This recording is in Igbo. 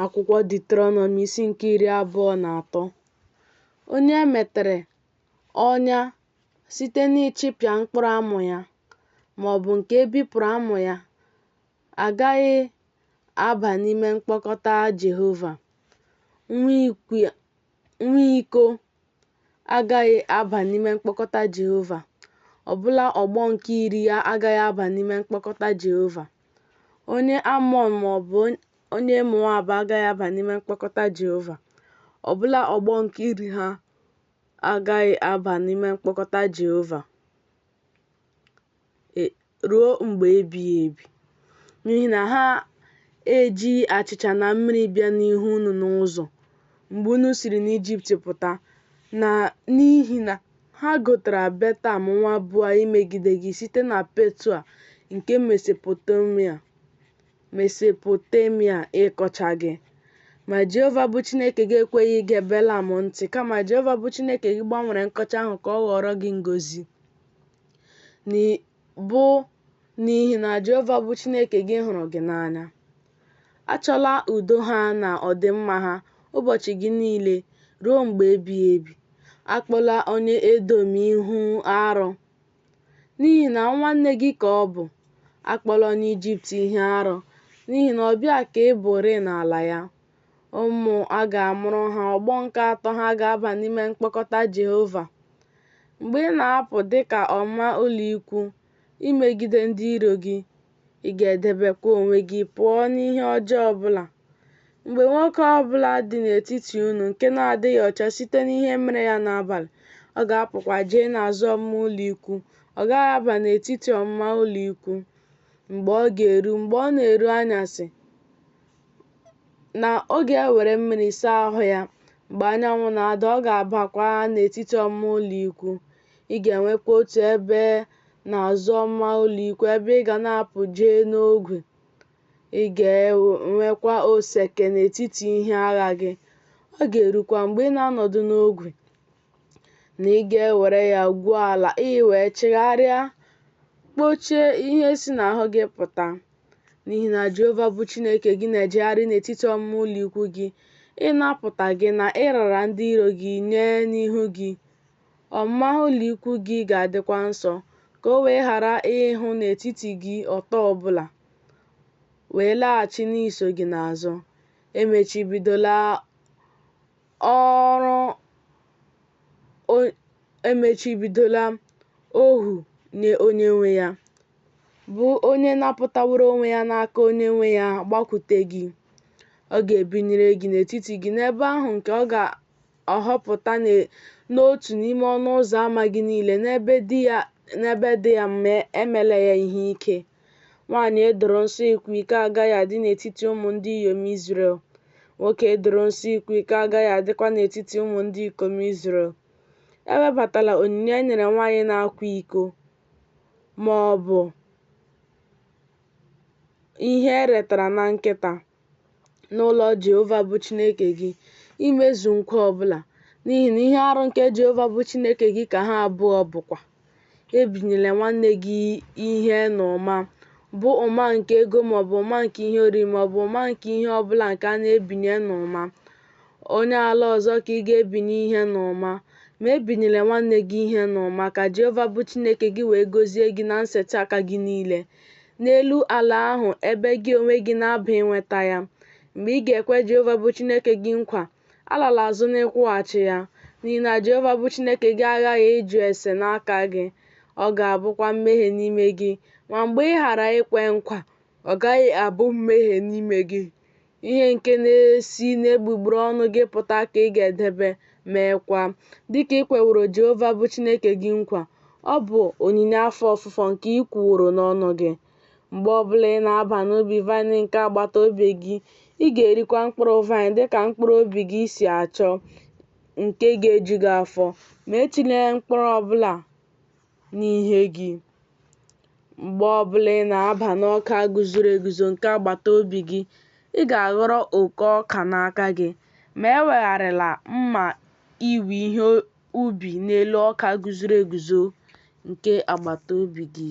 Akwụkwọ Deuteronomi isi nke iri abụọ na atọ onye e metere ọnya site n'ịchịpịa mkpụrụ amụ ya ma ọ bụ nke e bipụrụ amụ ya agaghị aba n'ime mkpọkọta Jehova. Nwa iko agaghị aba n'ime mkpọkọta Jehova, ọbụla ọgbọ nke iri ya agaghị aba n'ime mkpọkọta Jehova. Onye Amọn ma ọ bụ onye Moab agaghị aba n'ime mkpọkọta Jehova, ọbụla ọgbọ nke iri ha agaghị aba n'ime mkpọkọta Jehova ruo mgbe ebighị ebi, n'ihi na ha ejighị achịcha na mmiri bịa n'ihu unu n'ụzọ mgbe unu siri n'Ijipt pụta, na n'ihi na ha gotara Betam nwa Bua imegide gị site na Petua nke Mesopotamia ịkọcha gị. Ma Jehova bụ Chineke gị ekweghị ige Belam ntị, kama Jehova bụ Chineke gị gbanwere nkọcha ahụ ka ọ ghọọrọ gị ngọzi. bụ n'ihi na Jehova bụ Chineke gị hụrụ gị n'anya. Achọla udo ha na ọdịmma ha ụbọchị gị niile ruo mgbe ebighị ebi. Akpọla onye Edom ihe arụ, n'ihi na nwanne gị ka ọ bụ. Akpọla onye Ijipt ihe arụ, n'ihi na ọbịa ka ị bụrịị n'ala ya. ụmụ a ga-amụrụ ha, ọgbọ nke atọ ha ga-aba n'ime mkpọkọta Jehova. Mgbe ị na-apụ dị ka ọmụma ụlọikwuu imegide ndị iro gị, ị ga-edebekwa onwe gị pụọ n'ihe ọjọọ ọ bụla. Mgbe nwoke ọ bụla dị n'etiti unu nke na-adịghị ọcha site n'ihe mere ya n'abalị, ọ ga-apụkwa jee n'azụ ọmụma ụlọikwuu, ọ gaghị aba n'etiti ọmụma ụlọikwuu. Mgbe ọ ga-eru, mgbe ọ na-eru anyasị, na ọ ga-ewere mmiri saa ahụ ya mgbe anyanwụ na-ada, ọ ga-abakwa n'etiti ọmụma ụlọikwuu. Ị ga-enwekwa otu ebe n'azụ ọmụma ụlọikwuu ebe ị ga na-apụ jee n'ogwe. Ị ga-enwekwa oseke n'etiti ihe agha gị. Ọ ga-erukwa mgbe ị na-anọdụ n'ogwe, na ị ga-ewere ya gwuo ala ị wee chigharịa kpochie ihe si n'ahụ gị pụta n'ihi na Jehova bụ Chineke gị na-ejegharị n'etiti ọmụma ụlọ ikwu gị ịnapụta gị na ịrara ndị iro gị nye n'ihu gị ọmụma ụlọ ikwu gị ga-adịkwa nsọ ka o wee ghara ịhụ n'etiti gị ọtọ ọbụla wee laghachi n'iso gị n'azụ emechibidola ọrụ emechibidola ohu nye onye nwe ya, bụ onye napụtaworo onwe ya n'aka onye nwe ya gbakwute gị. Ọ ga-ebinyere gị n'etiti gị n'ebe ahụ nke ọ ga-ahọpụta n'otu n'ime ọnụ ụzọ ama gị niile n'ebe dị ya mma, emela ya ihe ike. Nwanyị e doro nsọ ịkwa iko agaghị adị n'etiti ụmụ ndị inyom Izrel, nwoke e doro nsọ ịkwa iko agaghị adịkwa n'etiti ụmụ ndị ikom Izrel. Ewebatala onyinye e nyere nwanyị na-akwa iko ma ọ bụ ihe e retara na nkịta. n'ụlọ Jehova bụ Chineke gị imezu nkwa ọ bụla, n'ihi na ihe arụ nke Jehova bụ Chineke gị ka ha abụọ bụkwa. Ebinyela nwanne gị ihe n'ụma, bụ ụma nke ego maọbụ ụma nke ihe oriri maọbụ ụma nke ihe ọ bụla nke a na-ebinye n'ụma. Onye ala ọzọ ka ị ga-ebinye ihe n'ụma, ma ebinyela nwanne gị ihe n'ụma, ka Jehova bụ Chineke gị wee gọzie gị na nsetị aka gị niile. n'elu ala ahụ ebe gị onwe gị na-aba inweta ya. Mgbe ị ga-ekwe Jehova bụ Chineke gị nkwa, alala azụ n'ịkwụghachi ya, n'ihi na Jehova bụ Chineke gị aghaghị ịjụ ese n'aka gị, ọ ga-abụkwa mmehie n'ime gị. Ma mgbe ị ghara ikwe nkwa, ọ gaghị abụ mmehie n'ime gị. Ihe nke na-esi n'egbugbere ọnụ gị pụta ka ị ga-edebe, meekwa, dị ka i kweworo Jehova bụ Chineke gị nkwa. Ọ bụ onyinye afọ ofufo nke i kwuworo n'ọnụ gị. Mgbe ọ bụla ị na-aba n'ubi vaịn nke agbata obi gị, ị ga-erikwa mkpụrụ vaịn dị ka mkpụrụ obi gị si achọ, nke ga-eju gị afọ, ma etinyela mkpụrụ ọ bụla n'ihe gị. Mgbe ọ bụla ị na-aba n'ọka guzoro eguzo nke agbata obi gị, ị ga-aghọrọ oko ọka n'aka gị, ma ewegharịla mma iwe ihe ubi n'elu ọka guzoro eguzo nke agbata obi gị.